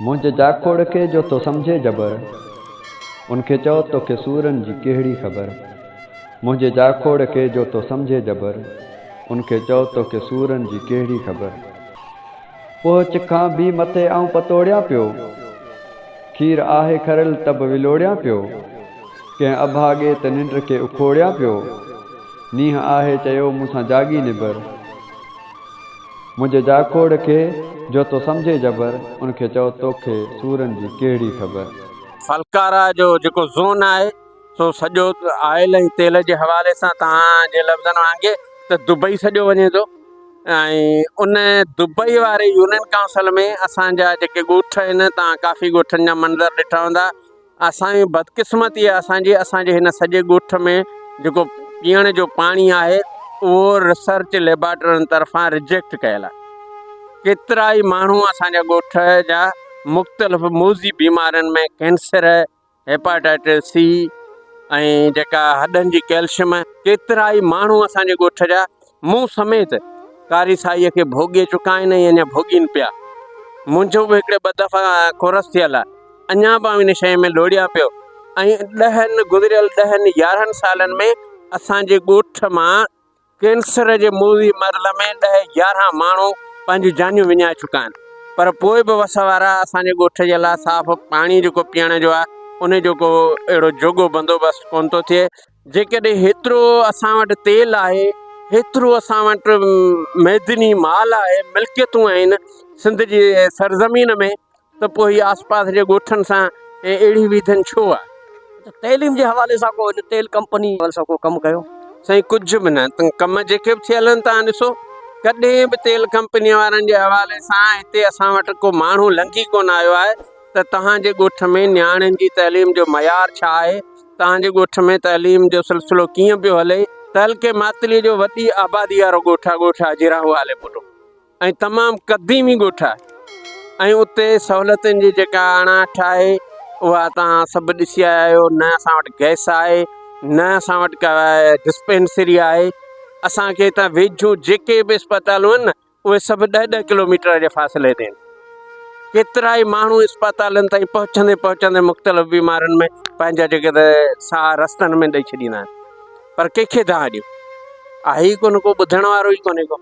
منهنجي جاکوڙ کي جو ٿو سمجهي جبر، ان کي چئو توکي سورن جي ڪهڙي خبر. منهنجي جاکوڙ کي جو ٿو سمجهي جبر، ان کي چئو توکي سورن جي ڪهڙي خبر. پهچ کان به مٿي آئون پتوڙيان پيو، کير آهه کريل ته به ولوڙيان پيو. ڪنهن اڀاڳي ته ننڊ کي اکوڙيان پيو، نينهن آهه چيو مون سان جاڳي نبر. منهنجي جاکوڙ کي جو تو سمجهي جبر، ان کي چئو توکي سورن جي ڪهڙي خبر. ڦلڪارا جو جيڪو زون آهي سو سڄو آئل ۽ تيل جي حوالي سان توهان جي لفظن وانگي ته دبئي سڏيو وڃي ٿو ۽ ان دبئي واري يونين ڪائونسل ۾ اسان جا جيڪي ڳوٺ آهن توهان ڪافي ڳوٺن جا منظر ڏٺا هوندا اسان جي بدقسمتي آهي اسان جي اسان جي هن سڄي ڳوٺ ۾ جيڪو پيئڻ جو پاڻي آهي اهو ريسرچ ليبارٽرين طرفان رجيڪٽ ڪيل آهي ڪيترا ئي ماڻهو اسان جا ڳوٺ جا مختلف موضي بيمارين ۾ ڪينسر هيپاٽائٽس سي ۽ جيڪا هڏن جي ڪيلشم ڪيترا ئي ماڻهو اسان جي ڳوٺ جا مون سميت قاري سائيء کي ڀوڳي چڪا آهن ۽ اڃا ڀوڳين پيا. منهنجو به هڪڙي ٻه دفعا ڪورس ٿيل آهي. اڃا به آئون ان شيء ۾ لوڙهيان پيو ۽ ڏهن، گذريل ڏهن يارهن سالن ۾ اسان جي ڳوٺ مان ڪينسر جي موذي مرض ۾ ڏهه يارهن ماڻهو پنهنجون جانيون وڃائي چڪا آهن. پر پوء به وس وارا اسان جي ڳوٺ جي لاء صاف پاڻي جيڪو پيئڻ جو آهي، ان جو ڪو اهڙو جوڳو بندوبست ڪونه ٿو ٿئي. جيڪڏهن هيترو اسان وٽ تيل آهي، هيترو اسان وٽ معدني مال آهي، ملڪيتون آهن سنڌ جي سرزمين ۾ ته پوء هي آس پاس جي ڳوٺن سان اهڙي ويڌن ڇو آهي؟ تعليم جي حوالي سان ڪو هن تيل ڪمپني جي حوالي سان ڪو ڪم ڪيو؟ سائين ڪجهه به نه، تن ڪم جيڪي به ٿيل آهن توهان ڏسو، ڪڏهن به تيل ڪمپني وارن جي حوالي سان هتي اسان وٽ ڪو ماڻهو لنگهي ڪونه آيو آهي، ته توهان جي ڳوٺ ۾ نياڻين جي تعليم جو معيار ڇا آهي، توهان جي ڳوٺ ۾ تعليم جو سلسلو ڪيئن پيو هلي. تعلقي ماتليء جو وڏي آبادي وارو ڳوٺ آهي ڳوٺ آهي جيراهو آلي ٻولو ۽ تمام قديمي ڳوٺ آهي ۽ اتي سهولتن جي جيڪا اڻاٺ آهي اها توهان سڀ ڏسي آيا آهيو نه اسان وٽ گئس آهي نه اسان وٽ ڪا ڊسپينسري آهي اسان کي هتان ويجهو جيڪي به اسپتالون آهن نه اهي سڀ ڏهه ڏهه ڪلوميٽر جي فاصلي تي آهن. ڪيترائي ماڻهو اسپتالن تائين پهچندي پهچندي مختلف بيمارين ۾ پنهنجا جيڪي ته ساهه رستن ۾ ڏئي ڇڏيندا آهن پر ڪنهن کي دانهن ڏيون اهي ڪو نه ڪو ٻڌڻ وارو ئي ڪونهي ڪو